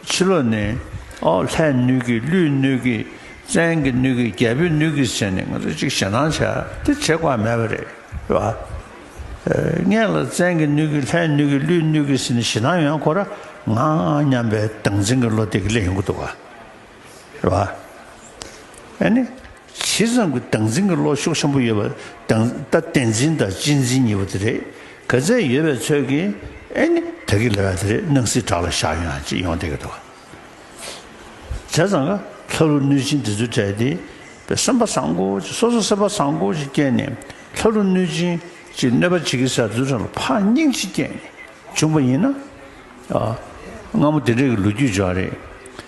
ཕྱི་ལོ་ནི། ཨོ། ལྷའི་སྣོད་ཀྱིས་ཀླུའི་སྣོད་ཀྱིས་བཙན་གྱི་སྣོད་ཀྱིས་རྒྱལ་པོའི་སྣོད་ཀྱིས་བྱས་ནས་ང་ཚོ་གཅིག་ཞེ་སྡང་བྱ་དེ་བྱེད་དགོས་མེད་པ་རེད་བ། ལྔས་ལ་བཙན་གྱི་སྣོད་ཀྱིས་ལྷའི་སྣོད་ཀྱིས་ཀླུའི་སྣོད་ཀྱིས་བྱས་ནས་ཞེ་སྡང་ཡོན་ཁོ་ར་ང་སྙམ་པའི་སྡང་འཛིན་གྱི་བློ་དེ་གི་ལས་ཡོང་གི་འདུག་བ། ཨ་ནི། ཇི་ཙམ་གྱི་སྟངས་འཛིན་གྱི་བློ་ཤུགས་ཆེན་པོ་ཡོད་པ་དང་ད་བསྟན་འཛིན་དང་གཅེས་འཛིན་གཉིས་པོ་དེ་རེད་ག་ཚད་ཡོད་པའི་ཚོད་ཀྱིས་ཨེ་ནི་ད་གི་ལ་ར་དེ་རེད་སྣང་སྲིད་བྲག་ལ་བཞག་ཡོང་ཡང་ཅི་ཡོང་བསྡད་གི་འདུག་བྱས་ཙང་ལ་ལྷ་ཀླུ་གནོད་སྦྱིན་དེ་ཚོའི་གྲས་དེ་བས་སེམས་པ་བཟང་པོ་ཅིག་སོ་སོ་སེམས་པ་བཟང་པོ་ཅིག་བསྐྱེད་ནས་ལྷ་ཀླུ་གནོད་སྦྱིན་གྱི་གནོད་པ་བྱེད་ཀྱི་ས་རྫུན་ཁྲ་ལ་ཕངས་སྙིང་ཅིག་བསྐྱེད་ནས་བྱུང་པ་ཡིན་ན། སྔ་མོ་དེ་འདྲས་ཀྱི་ལོ་རྒྱུས་འཇོག་རེད།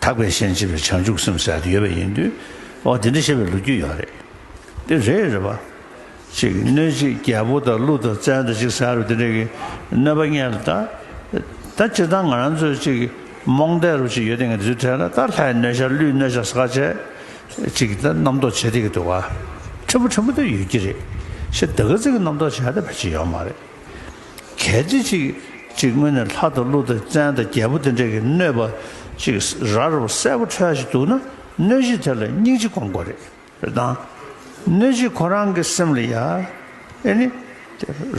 དག་པའི་ཤན་འབྱེད་པའི་བྱང་ཆུབ་སེམས་ཟད་དུ་ཡོད་པ་ཡིན་དུས་ཨོ་དེ་འདྲ་བཤད་པའི་ལོ་རྒྱུས་ཡོད་རེད། དེ་རེད་རེད་པ། ཅིག་གནོད་གཅིག་རྒྱལ་པོ་དང་ཀླུ་དང་བཙན་དང་ཅིག་ཟེར་བ་དེ་འདྲ་གི་གནོད་པ་རྙེད་ལ་ད། ད་སྤྱིར་བཏང་ང་རང་ཚོས་ཅིག་རྨོངས་དད་རུ་ཅིག་ཡོད་དེ་ང་དེ་ཚོའི་གྲལ་ལ་ད་ལྷའི་གནོད་བྱ་ཀླུའི་གནོད་བྱ་ཟ་ཁ་བྱས། ཅིག་ད་རྣམ་རྟོག་བྱེད་དེ་གི་འདུག་བ། ཕྲན་བུ་ཕྲན་བུ་དེ་ཡོད་ཀྱི་རེད། ཤི་ད་གི་ཚེ་གི་རྣམ་རྟོག་བྱས་ད་བེད་ཅིག་ཡོད་མ་རེད། གལ་ཏེ་ཅིག་ཅིག་སྔོན་ནས་ལྷ་དང་ཀླུ་དང་བཙན་དང་རྒྱལ་པོ་དེ་འདྲས་ཀྱི་གནོད་པ་ཅིག་ར་རོ་གསལ་པོ་འཕྲོ་ཡ་ཞིག་འདུག་ན་གནོད་གཞི་དེ་ལ་སྙིང་རྗེ་སྐོང་དགོས་རེད་དང། གནོད་གཞི་ཁོ་རང་གི་སེམས་ལ་ཡ་ཨེ་ནི།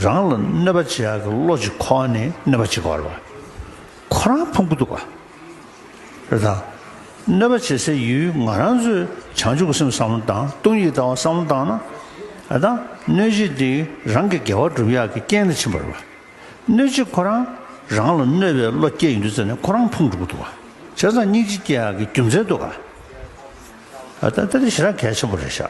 རང་ལ་གནོད་པ་བྱེད་ཡ་གི་བློ་ཅིག་ཁོ་ནས་གནོད་པ་བྱེད་དགོས་ར་བ་ཁོ་རང་ཕུང་གི་འདུག་ག། རེ་དང། གནོད་པ་བྱེད་སའི་ཡུལ་ང་རང་ཚོས་བྱང་ཆུབ་ཀྱི་སེམས་བསམ་བློ་བཏང་ལྟུང་ཡིད་དང་བ་བསམ་བློ་བཏང་ན། རེ་དང། གནོད་བྱེད་དེ་རང་གི་དགེ་བ་བསྒྲུབ་ཡག་གི་རྐྱེན་ལ་ཕྱིན་པར་བ། གནོད་བྱེད་ཁོ་རང་རང་ལ་གནོད་པའི་བློ་སྐྱེ་ཡོད་འདུག་ཙེ་ནས་ཁོ་རང་ཕུང་འགྲོ་གི་འདུག་བ། བྱས་ཙང་སྙིང་རྗེ་སྐྱེ་ཡག་གི་རྒྱུ་མཚན་འདུག་ག། ད་ལྟ་འདི་ཞེ་དྲག་གལ་ཆེན་པོ་རེད་ཤག།